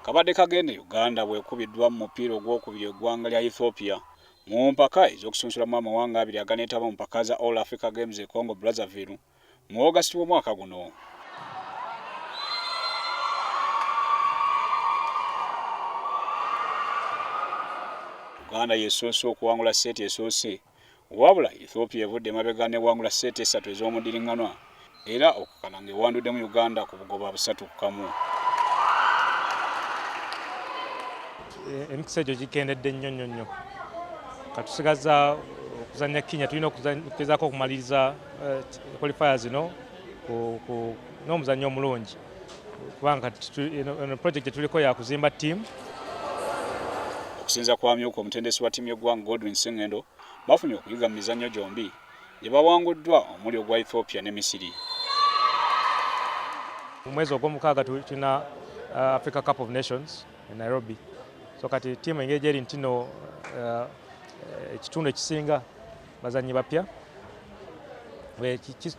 kabadde kagenda e uganda bwekubiddwa mu mupiira ogwokubiri eggwanga lya ethiopia mu mpaka ez'okusunsulamu amawanga abiri aganeetaba mu mpaka za all africa games e congo brazzaville mu august w'omwaka guno uganda yesoose okuwangula seeti esoose Wabula Ethiopia evudde emabega n'ewangula sseeti essatu ez'omuddiringanwa era okukana ng'ewanduddemu Uganda ku bugoba busatu ku kamu. Eh, emikisa egyo gikendedde nnyo nnyo nnyo katusigaza okuzannya kenya tulina okugezaako okumaliriza eh, qualifier zino n'omuzannyo omulungi kubanga eno pulojekiti tuliko yakuzimba ttiimu okusinza kwamyuka omutendesi wa ttiimu y'eggwanga godwin sengendo bafunye okuyiga mu mizannyo gyombi gye bawanguddwa omuli ogwa ethiopia ne misiri mu mwezi ogw'omukaaga tulina uh, africa cup of nations e nairobi so kati ttiimu engeri gyeri ntino uh, ekitundu ekisinga bazannyi bapya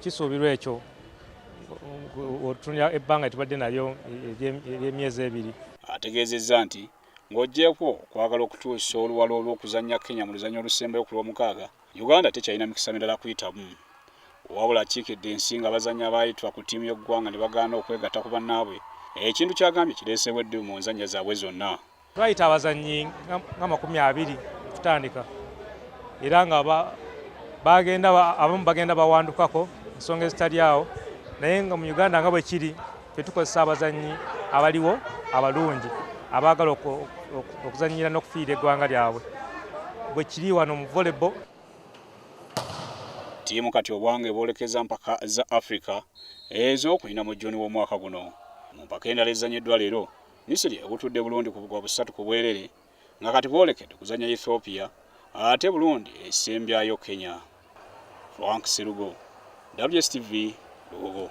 kisuubirwa ekyo otunira ebbanga etubadde nalyo ery'emyezi ebiri ategeezezza nti ng'ogyeko okwagala okutuusa oluwalo olw'okuzannya kenya mu luzannya olusembayo ku lw'omukaaga uganda tekyalina mikisa mirala kuyitamu wabula akiikidde ensi nga bazannya baayitwa ku ttiimu y'eggwanga ne bagaana okwegatta ku bannaabwe ekintu kyagambye kireeseewo eddibu mu nzannya zaabwe zonna Twayita abazannyi nga makumi abiri okutandika era nga bagenda abamu bagenda bawandukako ensonga ezitali awo naye nga mu Uganda nga bwe kiri ffe tukozesa abazannyi abaliwo abalungi abaagala okuzannyira n'okufiira eggwanga lyabwe bwe kiri wano mu volleyball ttiimu kati obwange boolekeza mpaka za africa ez'okulina mu juni w'omwaka guno mu mpaka endala ezanyeddwa leero Misiri ebutudde Burundi ku bugwa busatu ku bwerere nga kati bwolekedde kuzannya Ethiopia ate Burundi esembyayo Kenya. Frank Serugo, WSTV, Lugogo.